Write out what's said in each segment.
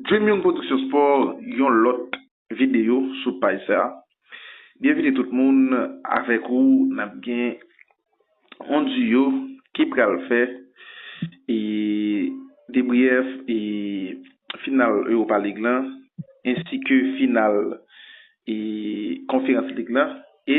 Dream Young Production Sport yon lòt videyo sou paj sa. Byenvini tout moun avèk ou nap gen yon duo ki pral fè e debrièf e final Europa League lan ensi ke final e konferans lig lan e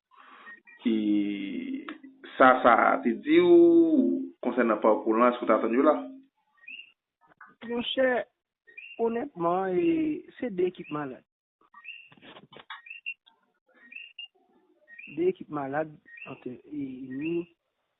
e sa sa te di w konsènan pakou lan, èske w t atann yo la? Monchè, onètman, e se 2 ekip malad. 2 ekip malad ant e ni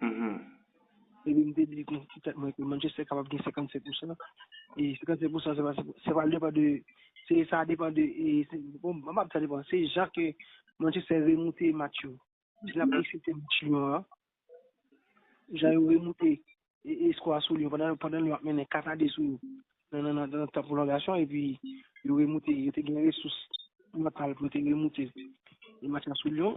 Epi m te di nan ti tèt mwen ke Manchester kapab gen 57 pousan, e 57 pousan se pa se pa depan de se sa depan de e bon m pa di sa depan se jan ke Manchester remoute match yo si n ap eksepte match Lyon an jan yo remoute e skò a sou Lyon pandan Lyon ap mennen 4 a 2 sou yo nan tan pwolongasyon epi yo remoute yo te gen resous mantal pou yo te remoute match la sou Lyon.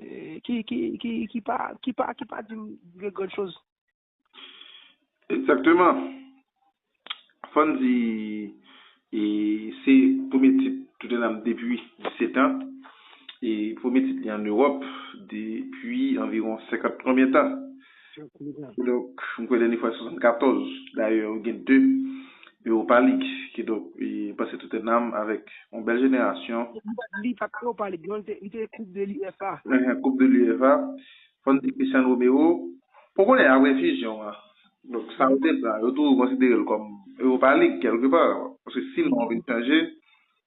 eh, ki, ki, ki, ki pa, ki pa, ki pa di m de gran choz. Egzakteman. Fò n di, e, se premye tit Tottenham depi 17 an, e premye tit li an Ewòp depi anviwon 50 konbyen tan. Kidonk, m kwè dènye fwa se 74, dayè ou gen 2 Europa League. Kidonk, m panse tout un âme avèk yon bèl jenerasyon. Li pa t Europa League non, li te Coupe de l'UEFA. Enhen, Coupe de l'UEFA. Fò n di Christian Romero, pou konnen apre fusion an, donk sa yo te pran, yo toujou konsidere l kòm Europa League kèlke pa, paske si non an vin chanje,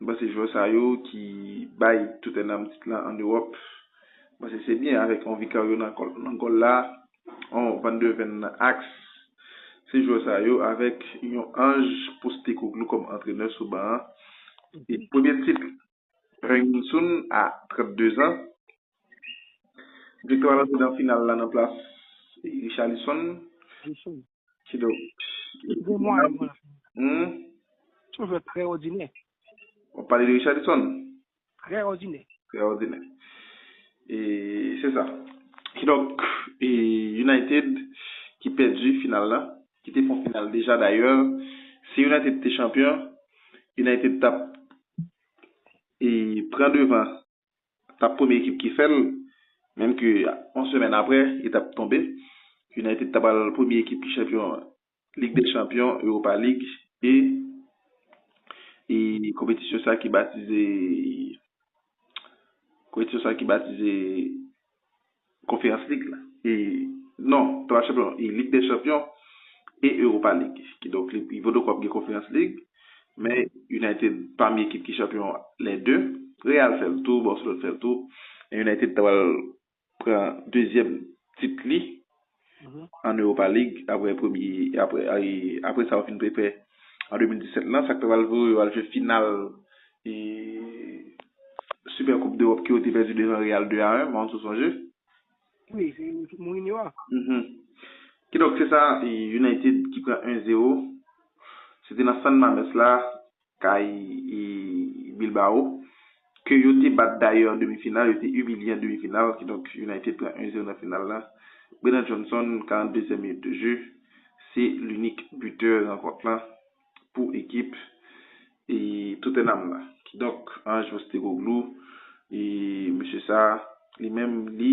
M panse jwè sa yo ki bay Tottenham tit la an Ewòp, m panse se byen avèk yon Vicario nan gòl la, yon Van de Ven nan aks. Se jwè sa yo avèk yon Ange Postecoglou kòm antrenè sou ban an. E premye tit Heung-min Son a 32 zan. Victor al antre nan final la nan plas Richarlison. Kidonk, li gen mwayen pou l ap vini. Hum? S on jwè trè òdinè. W ap pale de Richarlison? Trè òdinè. Trè òdinè. E se sa. Kidonk, e United ki pèdi final la, ki te fon final deja dayè, si United te chanpyon, United t ap e pran devan. tap premye ekip ki fèl, menm ke yon semèn aprè li tap tonbe, United ta pral premye ekip ki chanpyon Lig dè Chanpyon, Europa League e e konpetisyon sa ki batize konpetisyon sa ki batize Konferans Lig la, e, non, pa Match Chanpyon, e Lig dè Chanpyon e Europa League. Kidonk, li, Bordeaux pap gen Konferans Lig, men United pami ekip ki chanpyon lè 2. Real fè l tou, Barcelone fè l tou, men United ta pral pran dezyèm tit li an Europa League aprè premye aprè sa yo fin pèpè an 2017 lan sak te pral voye yo al jwe final Super Coupe d'Europe ke yo te pèdi devan Real 2 a 1 m'en sou sonje. Wi Mourinho a. Kidonk se sa United ki pran 1 zero se te nan San Mamés la. kay Bilbao ke yo te bat dayè an demi final, yo te imilye an demi final, kidonk United pran 1 zero nan final la. Brennan Johnson 42 zièm minit de jeu se linik bitè rankont lan pou ekip Tottenham la. Kidonk Ange Postecoglou, mesye sa li menm li.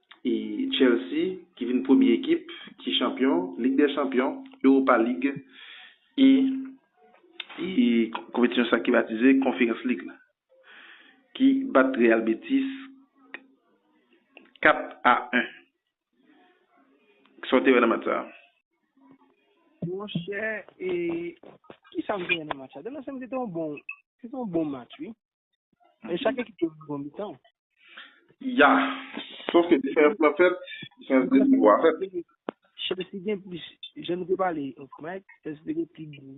Chelsea ki vin premye ekip ki chanpyon Lig dè Chanpyon, Europa League e konpetisyon sa ki batize Conference League la, ki bat Real Betis 4 a 1. Kisa w te wè nan match sa? Monchè, kisa m te wè nan match sa? Demen se m se te yon bon match wi. Men chak ekip te jwe bon mitan. Ya, sof ke diferans lan fèt, diferans de nivo a fèt. Chelsea gen plis, jan nou te pale off mic, Chelsea te gen pi gwo,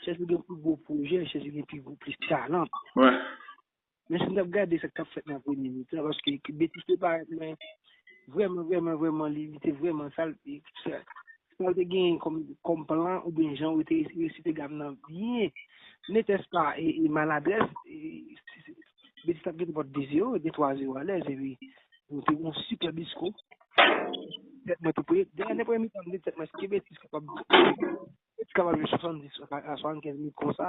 Chelsea gen pi gwo pwojè, Chelsea gen pi gwo, plis talan. Wè. Men si n t ap gade sa k t ap fèt nan premye mitan, paske ekip Betis te parèt men vrèman, vrèman, vrèman li te vrèman sal, ekip sa. Sa ou te genyen kòm plan oubyen jan ou te resite gam nan byen netès pa maladrès, Beti t ap gete pòt de zewo, de twa zewo alèz epi nou te gen yon sipèb disko. Tèt mwen te pre. Dèyè nenpò yon mitan m di tèt mwen èske Beti t kapab jwe 70 a 75 minit konsa?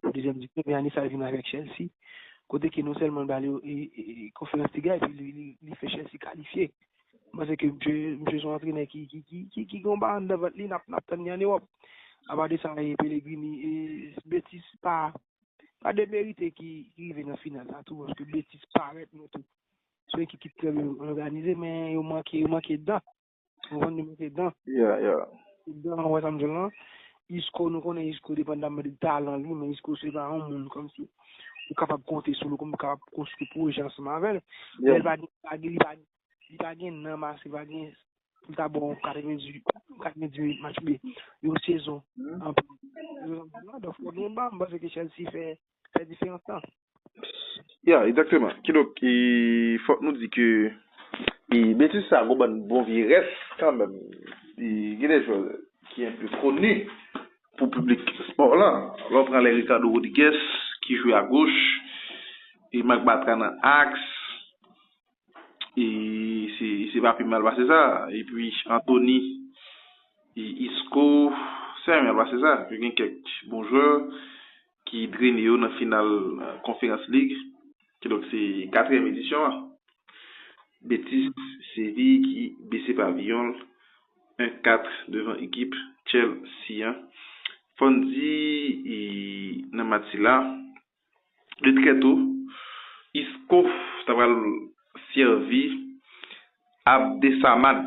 Pou dezyèm di klèb e ane sa li vin avèk Chelsea kote ke non sèlman l ba yo konferans Liga epi li fè Chelsea kalifye. M panse ke msye son antrenè ki gen yon ba anndan vant li n ap tann li an Ewòp. Apa de sa e Pellegrini e Betis pa pa demerite ki rive nan final la tou paske Betis parèt mwen tou son ekip ki trè byen òganize men yo manke dan. Ou konn nou mete dan. Yeah, yeah. Dan ou wè sa m di w lan. Isco nou konnen Isco depandamman de talan li men Isco se pa yon moun kòm si ou kapab konte sou li kòm ou kapab konstwi pwojè ansanm avè l. Yeah. Lè l pa gen li pa li pa gen nanm ase, li pa gen pou l ta bon 90 90 minit match oubyen yon sezon. Donk fòk gen ban paske Chelsea fè Fè diferans lan. Ya, egzakteman. Kidonk, e fòk nou di ke e betiz sa a gon bann bon vye rès kanmenm. E gen dè jwè ki enpe koni pou piblik espò lan. Lè w pran lè Ricardo Rodrigues ki jwe agoch, e Marc Bartra nan aks, e se se pa pi mal pase sa. Epi Anthony e Isco, se pa pi mal pase sa. Yo gen kèk bon jwè. ki drene yo nan final Conference League, ki donk se katriyèm edisyon an. Betis Séville ki bese paviyon l 1 4 devan ekip Chelsea an. Fò n di nan match sila, de trè to, Isco ta pral sèvi Abdesamad.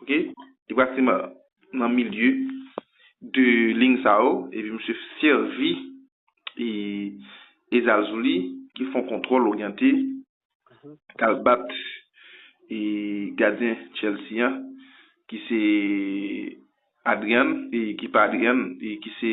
ok li pral se nan milieu de ligne sa yo epi misye sèvi e zazouli ki fon kontwòl oryante kal bat e gadyen Chelsea an ki se Adrian e ki pa Adrian e ki se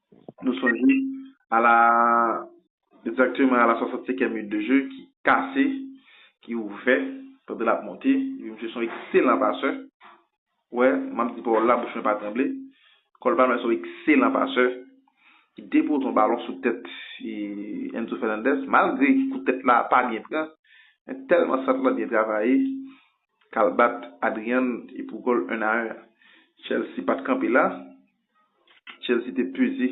Nou sonje a la egzakteman a la 65 è minit de jeu ki kase, ki ouvè pandan l ap monte. Epi misye se yon ekselan pasè. Wè, m ap di pawòl la, bouch mwen pa tranble. Cole Palmer se yon ekselan pasè ki depoze yon balon sou tèt Enzo Fernandez. Malgre kout tèt la pa byen pran, men tèlman sant lan byen travaye k al bat Adrian e pou gòl 1 a 1 a. Chelsea pa t kanpe la. Chelsea te peze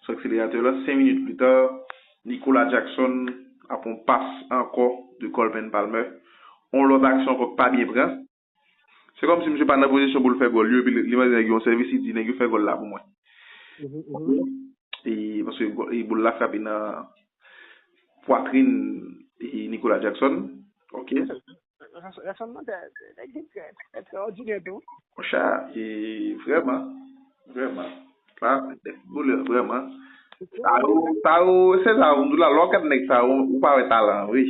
sou akseleratè la. 5 minit pli ta, Nicolas Jackson ap yon pas ankò de Coleman Palmer. Yon lòt aksyon ankò ki pa byen pran. Se kòm si misye pa nan pozisyon pou l fè gòl yo epi li mande nèg yo yon sèvis li di nèg yo fè gòl la pou mwen. E paske boul la frape nan pwatrin Nicolas Jackson. Ok. Rasanbleman nèg yo trè trè òdinè tou. Monchè e vrèman vrèman sa boulè vrèman sa yo sa yo se sa yo m di w la lè w gad nèg sa yo ou pa wè talan an wi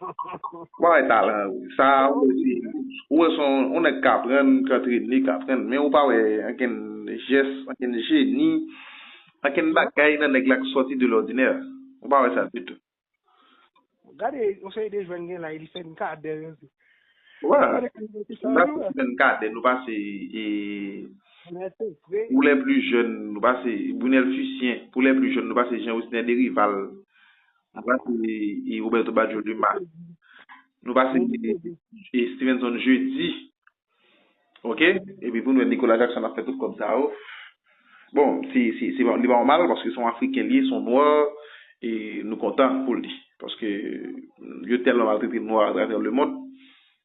ou pa wè talan an wi sa a ou di ou wè se yon nèg k aprann k antrene k aprann men ou pa wè ankenn jès ankenn jeni ankenn bagay nan nèg la k sòti de lòdinè ou pa wè sa ditou. Gade yon seri de jwèn gen la e li fè n kadè yo tou. Wè, nou pa sèlman fè n kadè, nou pase e pou lè pli jèn, nou pase Brunel Fucien, pou lè pli jèn nou pase Jean Osner Derival, nou pase e Roberto Baggio Dumas, nou pase e Stevenson Jeudi. Ok epi pou nou wè Nicolas Jackson ap fè tout kòb sa yo bon se se li pa nòmal paske se yon afriken li ye se yon nwa e nou kontan pou li paske yo tèlman maltrete nwa atravè le mond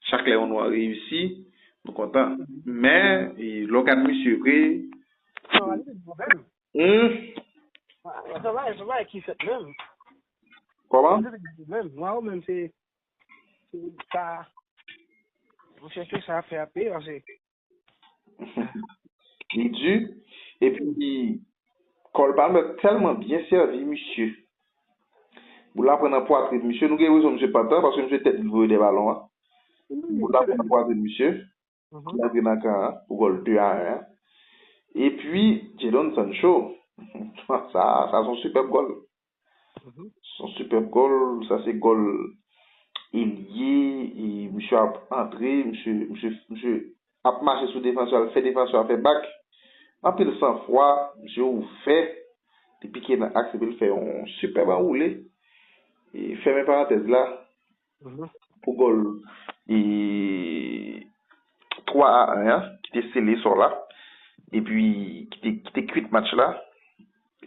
chak lè yon nwa reyisi nou kontan men lè w gad misye vre humm kòman Sa, mwen chèche sa fè a pi anse. Li di, epi kòl pa mèt tèlman byen sèvi misye. Boul la pran nan pwatrin misye, nou gen rezon misye pantan paske misye tèt li voye dè balon an. Boul la pran nan pwatrin misye. ki rantre nan kan an pou gòl 2 a 1 an. Epi Jadon Sancho, sa se yon sipèb gòl. Se yon sipèb gòl, sa se gòl elye, misye ap antre, misye ap mache sou defansè a, fè defansè a fè bak. Anpil san fwa, misye ouvè, li pike nan aks epi li fè yon sipèb anwoule. Fèmen parantèz la, Pou gòl 3 a 1 an ki te sele sò la epi ki te kwit match la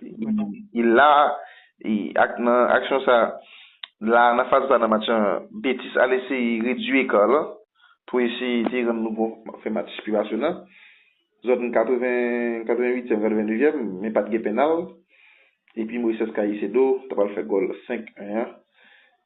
e la ak nan aksyon sa la nan faz sa nan match lan Betis al eseye redui eka lan pou eseye te rann nou bon fè match pi pasyonnan zòn 80 88èm 89 èm men pat gen pennal epi Moises Caicedo ta pral fè gòl 5 1 an.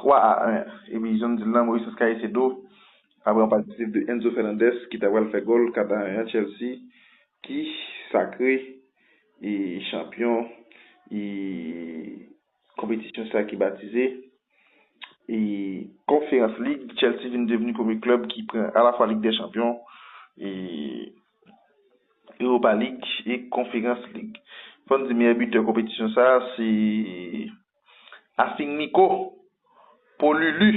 3 a 1 epi jan m di l la Moises Caicedo ap pran plas disip de Enzo Fernandez ki ta pral fè gòl 4 a 1 an Chelsea ki sakre e chanpyon e konpetisyon sa ki batize e Conference League Chelsea vin devni premye klèb ki pran alafwa Lig dè Chanpyon e Europa League e Conference League fò n di meyè bitè konpetisyon sa se. Asing Miko, po Lulu.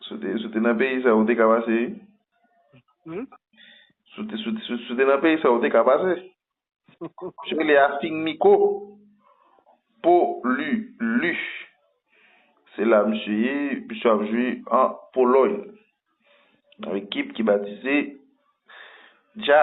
Si w te nan peyi sa ou te ka pase wi. Si w te nan peyi sa ou te ka pase. Misye rele Asing Miko, po Lulu. Se la misye ye, misye ap jwe an Poloy. Nan ekip ki batize Dja.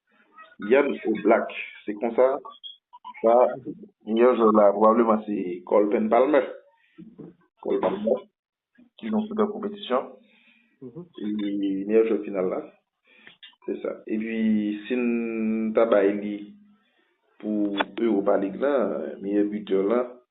Yann ou black se konsa sa yon jwè la pwobableman se Colpen Palmer Cole Palmer ki yon super konpetisyon e meyè jwè final la se sa epi si n ta bay li pou Europa League la meyè buteur la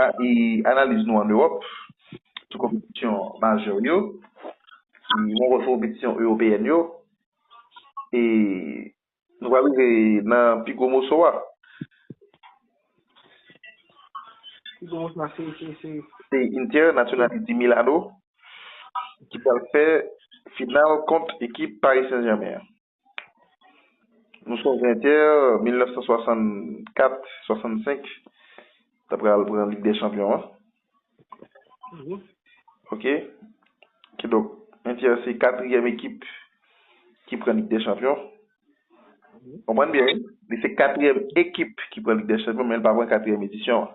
A e analiz nou an Ewòp sou konpetisyon majè yo, nou wè konpetisyon ewopeyèn yo e nou pral rive nan pi gwo moso a. Pi gwo moso a se, se, se? Se Inter Nationale di Milano ki pral fè final kont ekip Paris Saint-Germain an. Nou son ventè 1964, 65 ta pral pran Lig dè Chanpyon an. Mhm. Ok. Ki donk, Inter se katriyèm ekip ki pran Lig dè Chanpyon. Mhm. Konprann byen wi. Li se katriyèm ekip ki pran Lig dè Chanpyon men li pa pran katriyèm edisyon an.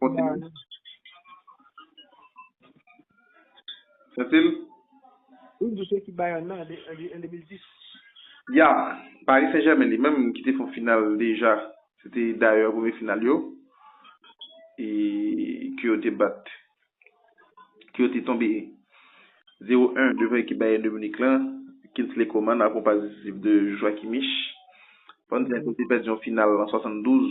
Kontinye. Sentil? Wi, m di se ekip Bayern nan, an 2010. Ya, Paris Saint Germain li menm ki te fè yon final deja, se te dayè premye final yo, e ke yo te bat, ke yo te tonbe 0 1 devan ekip Bayern de Munich lan, Kingsley Coman akonpaye disip de Joachim Kimmich. Fò n di a ke yo te pèdi yon final an 72.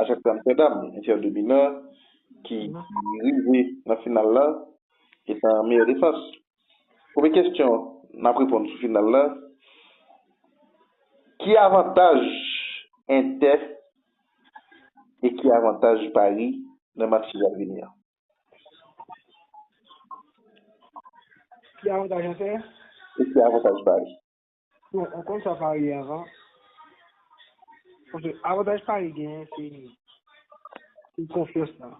Ajax Amsterdam, Inter de Milan, ki rive nan final la, etan meyè defans. Premye kesyon n ap reponn sou final la, ki avantaj Inter e ki avantaj Paris nan match ki pral vini an? Ki avantaj Inter? E ki avantaj Paris? Bon, ou konn sa Paris ye avan. Paske avantaj Paris genyen se se konfyans la.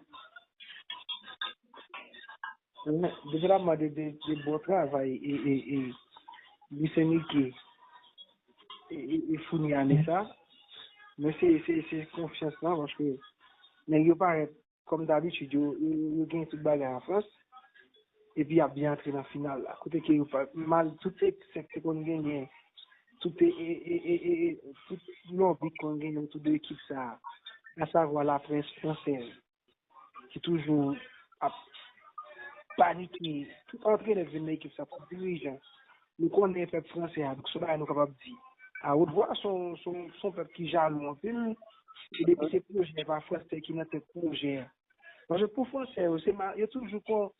Men, depi l ap mande de, de bon travay e, e, e, Luis Enrique e, e, e founi ane sa, men se, se, se konfyans la paske nèg yo parèt Kòm dabitid yo genyen tout bagay an Frans epi y ap byen antre nan final la kote ke yo pa mal tout eksè ki konn genyen tout lòbi ki konn genyen otou de ekip sa asavwa laprès fransèz ki toujou ap panike tout antrenè ki vin nan ekip sa tout dirijan Nou konnen pèp franse a, donk se yon bagay nou kapab di awotvwa, se yon pèp ki jalou anpil, e depi se pwojè pa franse ki nan tèt pwojè, paske pou franse yo, yo toujou kon,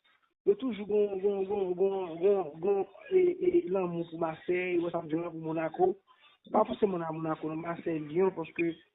yo toujou gon, gon, gon, gon, gon, gon e lanmou pou Masèy, wè sa m di w la, pou Monako, pa fòseman nan Monako non, Masèy, Lyon, paske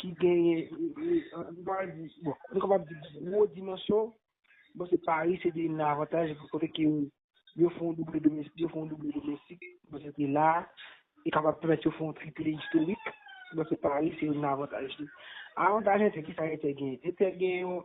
ki genyen, nou pa di, bon, nou kapab di gwo dimansyon, bon se Paris se te youn nan avantaj kote ke yo fè yon double domestik, yo fè yon double domestik, bon se te la, e kapab pèmèt yo fè yon triple istorik, bon se Paris se youn nan avantaj li. Avantaj Inter, ki sa Inter genyen? Inter genyen yon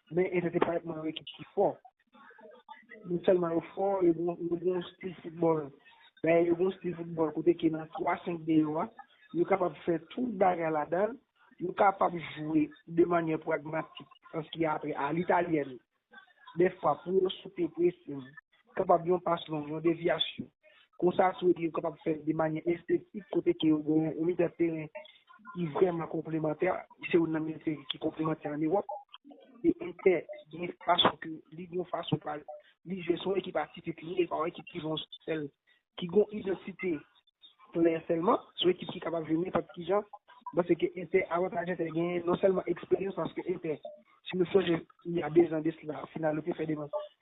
Men e se te pa ekman yon ekip ki fò. Non sèlman yo fò, yo gen yon stil foutbòl. Dayè yo gen yon stil foutbòl kote ke nan 3-5-2 yo a, yo kapab fè tout bagay ladan l, yo kapab jwe de manyè pragmatik an ski apre a litalyèn. Dèfwa pou yo sote presin, kapab yon pas long, yon devyasyon. Konsa tou epi yo kapab fè de manyè estetik kote ke yo gen yon mitan teren ki vrèman konplemantè, se youn nan mitan teren ki konplemantè an Ewòp. E Entè gen yon fason ke li gen yon fason pa li, li jwe son ekip atipikli, e pa yon ekip ki gen yon sèl, ki gen yon idantite klè sèlman, se yon ekip ki kapab jwe nenpòt ki jan. M panse ke Entè, avantaj Entè genyen non sèlman eksperyans paske Entè, si nou sonje il y a 2 ans de cela, final yo te fè devan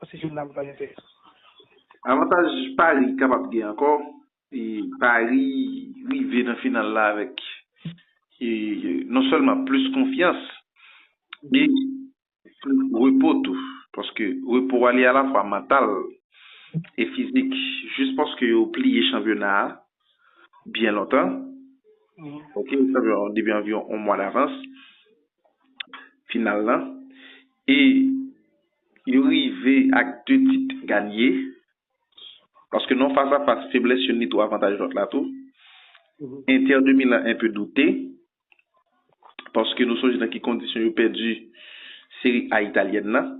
Paske se nan pale te. Avantaj Paris kapab gen ankò, e Paris rive nan final la avèk e non sèlman plis konfyans e plis repo tou. Paske repo a li alafwa mantal e fizik jis paske yo pliye chanpyona a byen lontan, ok, depi anviwon on mwa davans. final lan e yo rive ak 2 tit ganye paske nan fas a fas feblès youn li tou avantaj lòt la tou Inter de Milan enpe doute paske nou sonje nan ki kondisyon yo pèdi Serie A Italyèn nan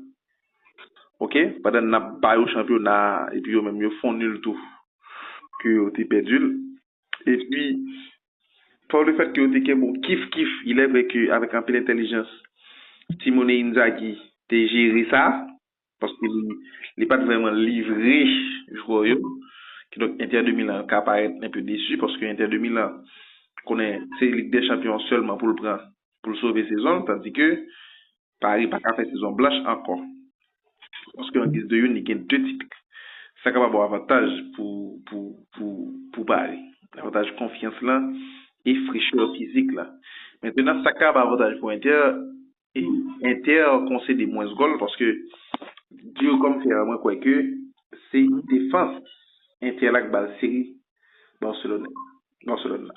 ok pandan nap ba yo chanpyona a epi yo menm yo fon nul tou ke yo te pèdi l. Epi, pa le fèt ke yo te gen bon kif-kif, ilè vrè ke avèk anpil entèlijans, Simone Inzaghi te jere sa, paske li pa t vrèman livre jwè yo, kidonk Inter de Milan ka parèt enpe desu, paske Inter de Milan konnen se Lig dè Chanpyon sèlman pou l pran pou l sove sezon l, tandike, Pari pa ka fè sezon blanch ankò, paske an giz de youn li gen 2 tit, sa kapab yon avantaj pou Pari, avantaj konfyans la e frechè fizik la. Mentenan sa kab avantaj pou Inter, Inter konsede mwens gòl paske diyo kòmsè a mwen kwè ke se defans Inter la k bal seri Barcelone, Barcelone la.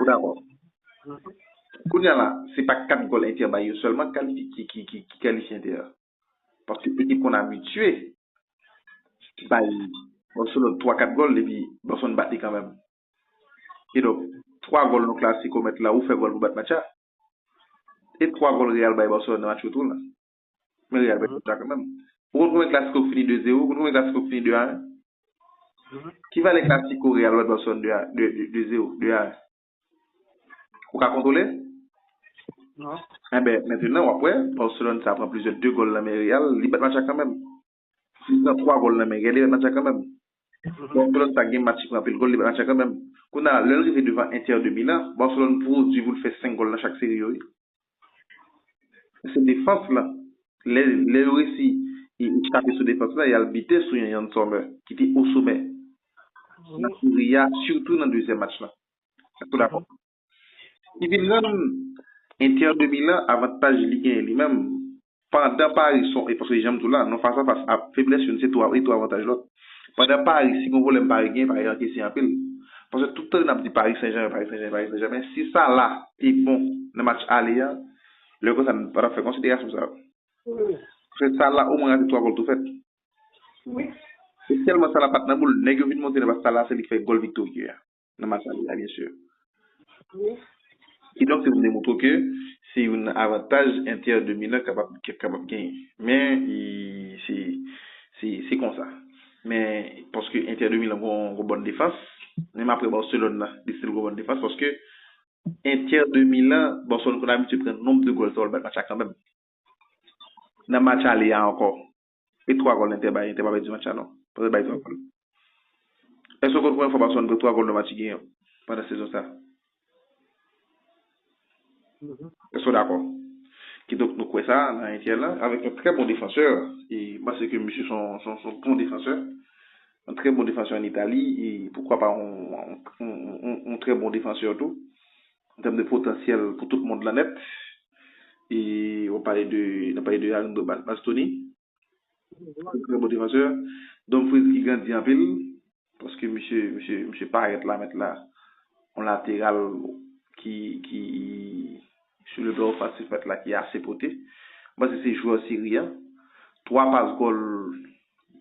Ou dakò? Kounye a la, se pa 4 gòl Inter bay yo sèlman ki kalifye Inter. Paske ekip konn abitye bay Barcelone 3, 4 gòl epi Barcelone bat li kanmenm. Kidonk, 3 gòl nan Clasico mèt la, ou fè gòl pou bat match la. E 3 gòl Real bay Barcelone nan match retour la. Men reyèl vre tout sa kan menm. Ou konn konbyen klas kok fini 2 zero? Ou konn konbyen klas kok fini 2 a 1? Ki valè klasiko reyèl wè Dawson 2 a 2 zero, 2 a 1? Ou ka kontwole? Non. Enben, mentenan wap wè, Barcelone sa pran plizyè 2 gòl nan men reyèl, li bat match la kan menm. Li pran 3 gòl nan men, Geleret Matcha kanmenm. Barcelone pa gen match li pran anpil gòl, li bat Matcha kanmenm. Kounye a, lè l rive devan Inter de Milan, Barcelone pwodui pou l fè 5 gòl nan chak seri yo wi. Se defans lan, lè lè yo resi chape sou defans lan, y al bite sou yon Yann Sommer ki te osomè nan seri a, sitou nan dezyèm match lan. Èske w dakò? Li vin rann Inter de Milan avantaj li genyen li menm pandan Paris son ekip paske janm di w la nou fas a fas a feblès youn se tou e tou avantaj lòt. Pandan Paris si gon pwoblèm Paris genyen Paris ankese anpil. Paske tout tan nap di Paris Saint-Germain Paris Saint-Germain Paris Saint-Germain si Salah te bon nan match ale a lè konsa nou pa tap fè konsiderasyon sa yo. Paske Salah omwen rate 3 gòl tou fèt. E tèlman Salah pat nan boul nèg yo vin monte nan paske Salah se li k fè gòl viktorye a. nan Massalia a byensi. Wi. Kidonk se pou m demontre w ke se youn nan avantaj Inter de Milan kapab kapab genyen. Men se se se konsa. Men paske Inter de Milan gon gon bòn defans, menm aprè Barcelone nan li stil gon bòn defans paske Inter de Milan, Barcelone konn abitye pran nonb de gòl sa yo l bat match la kanmenm. Nan match ale a ankò. E 3 gòl Entè bay, Entè pa pèdi match la non. Pase l bay 3 gòl. Èske w konn konbyen fwa Barcelone pran 3 gòl nan match li genyen pandan sezon sa? Èske w dakò? Kidonk nou kwè sa nan Entè lan avèk yon trè bon defansè. E m panse ke misye s on bon defansè. Yon trè bon defansè an Itali e poukwa pa yon trè bon defansè tou. an tèm de potansyèl pou tout mond lan nèt e wap pale de nap pale de Arin Bastoni yon trè bon defansè Dumfries ki grandi anpil paske misye misye parèt la mèt la yon lateral ki ki sou le plan ofansif mèt la ki ase pote m panse se jwè seri a 3 pas gòl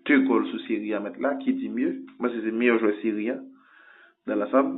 2 gòl sou seri a mèt la ki di mye m panse se meyè jwè seri a nan lansam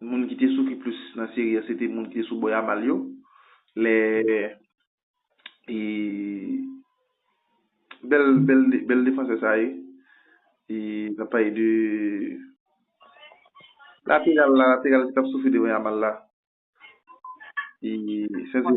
Moun ki te soufri plis nan seri a se te moun ki te sou bò Yamal yo. Lè e bèl bèl bèl defansè sa ye e n ap pale de lateral la lateral ki t ap soufri devan Yamal la e sèvyèm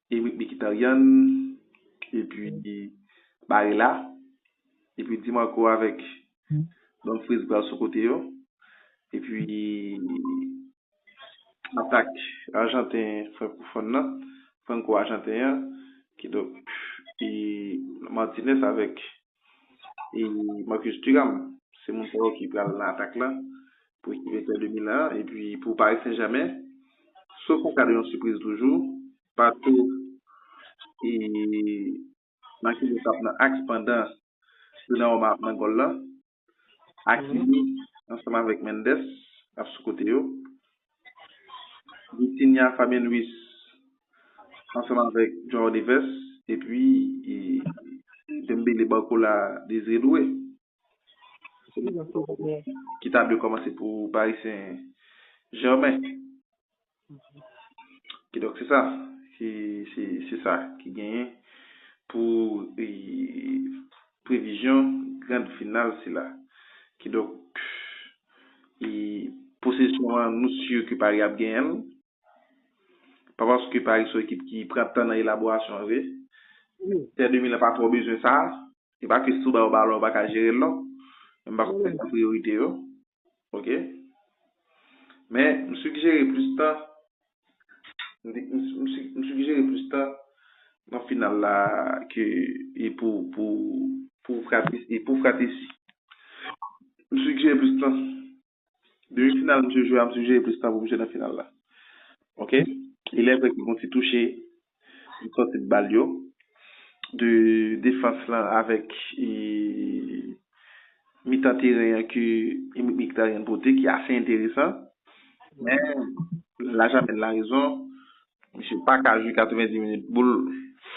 Erik Mikitaryan epi Barela epi Di Marco avèk Don Freez pral sou kote yo epi atak ajanten frankofòn nan franko ajanten an kidonk Martinez avèk. e Marcus Thuram se moun sa yo ki pral nan atak la pou ekip Inter de Milan an epi pou Paris Saint Germain sof an ka de yon sipriz toujou Pato e Marquinhos ap nan aks pandan Donnarumma ap nan gòl la Hakimi ansanm avèk Mendes ap sou kote yo. Vitinha Fabian Ruiz ansanm avèk João Neves epi Dembele Barcola Désiré Doué ki ta dwe kòmanse pou Paris Saint Germain. Kidonk se sa ki se sa ki genyen pou Previzyon grand final sila. Kidonk i. Posesyon an nou sur ke Paris ap genyen l. Pa paske Paris son ekip ki pran tan nan elaborasyon an vre. Inter de Milan pa twò bezwen sa. Se pa ke si yo ba yo balon yo pa ka jere l non. Men m pa kwè se sa priyorite yo. Ok Men m sigjere plis tan M sigjere plis tan nan final la ke e pou pou fratesi M sigjere plis tan Demi final misye jwe a m sigjere plis tan pou misye nan final la Ok Elè vre ki gon ti touche Li sòti bal yo de defans lan avèk mitan teren an ke Mkhitaryan pote ki ase enteresan. Men, la jamèn la rezon, misye pa ka jwe 90 minit boul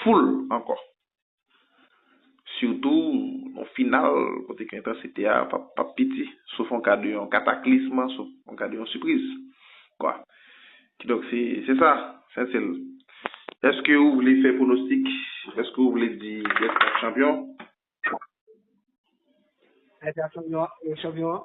foul ankò. sitou nan final kote ke entansite a pap piti, sof an ka de yon kataklism, sof an ka de yon sipriz. Kidonk se sa, Saintyl. Eske ou vle fè pwonostik? Eske ou vle di kiyès kap chanpyon? Ayiti ap chanpyon an?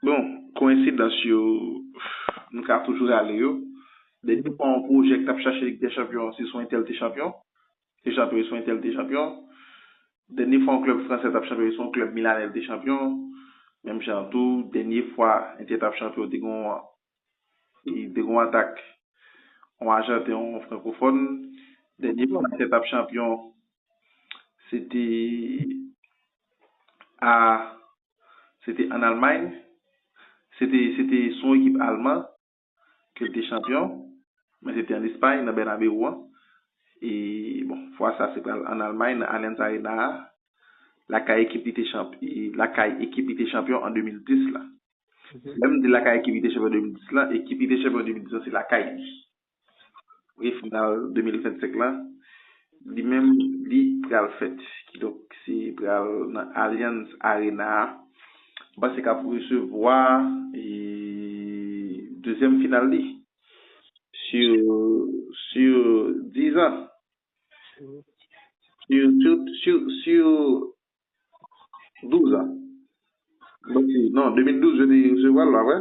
Bon, koyensidans yo, nou ka toujou rale yo. Dènye fwa yon pwojè ki t ap chache Lig dè Chanpyon, se sou entèl te chanpyon. Te chanpyon e sou entèl te chanpyon. Dènye fwa yon klèb fransè t ap chanpyon, se sou yon klèb milanè l te chanpyon. Menm jan tou, dènye fwa Entè t ap chanpyon, te gen yon te gen yon atak yon ajanten, yon frankofòn. Dènye fwa Entè t ap chanpyon, se te a Se te ann Almay, se te se te sou yon ekip alman ke l te chanpyon, men se te ann Espay, nan Bènabewou an. E, bon, fwa sa a se pral ann Almay, nan Allianz Arena a, lakay ekip li te chanp lakay ekip li te chanpyon an 2010 la. Lè m di lakay ekip li te chanpyon an 2010 la, ekip li te chanpyon an 2010 la se lakay li. Premye final 2025 la, li menm li pral fèt. Kidonk se pral nan Allianz Arena a. M panse k ap resevwa dezyèm final li sur 10 ans. Sur 12 ans. Non 2012 yo te resevwa l la vre.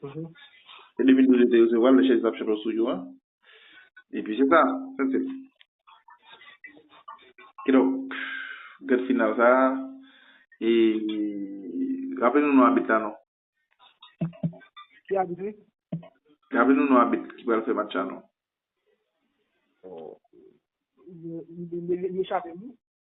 Mhm. Se 2012 yo te resevwa l, lè chèz la ap chante yon studio a. E pi se sa, that's it. Kidonk, gad final sa a, e raple nou non abit la non. Ki abit li? Raple nou non abit ki pral fè match la non. Li chape m wi.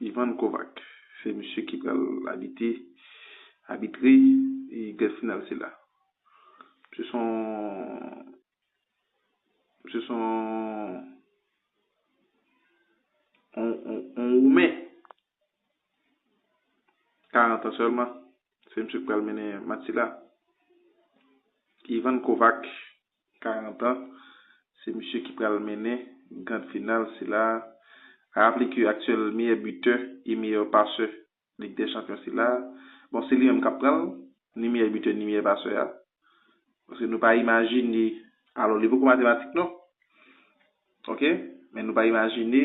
Ivan Kovac se misye ki pral abite, abitre e gran final sila. Misye se yon misye se yon woumen 40 an sèlman. Se misye ki pral mennen match sila. Ivan Kovac. 40 ans, se misye ki pral mennen grand final sila a. A raple ke aktyèl meyè butè e meyè pasè Lig dè Chanpyon sila a, bon se li menm kap pran l, ni meyè butè ni meyè pasè a. Paske nou pa imajine, alò li poko matematik non, ok, men nou pa imajine,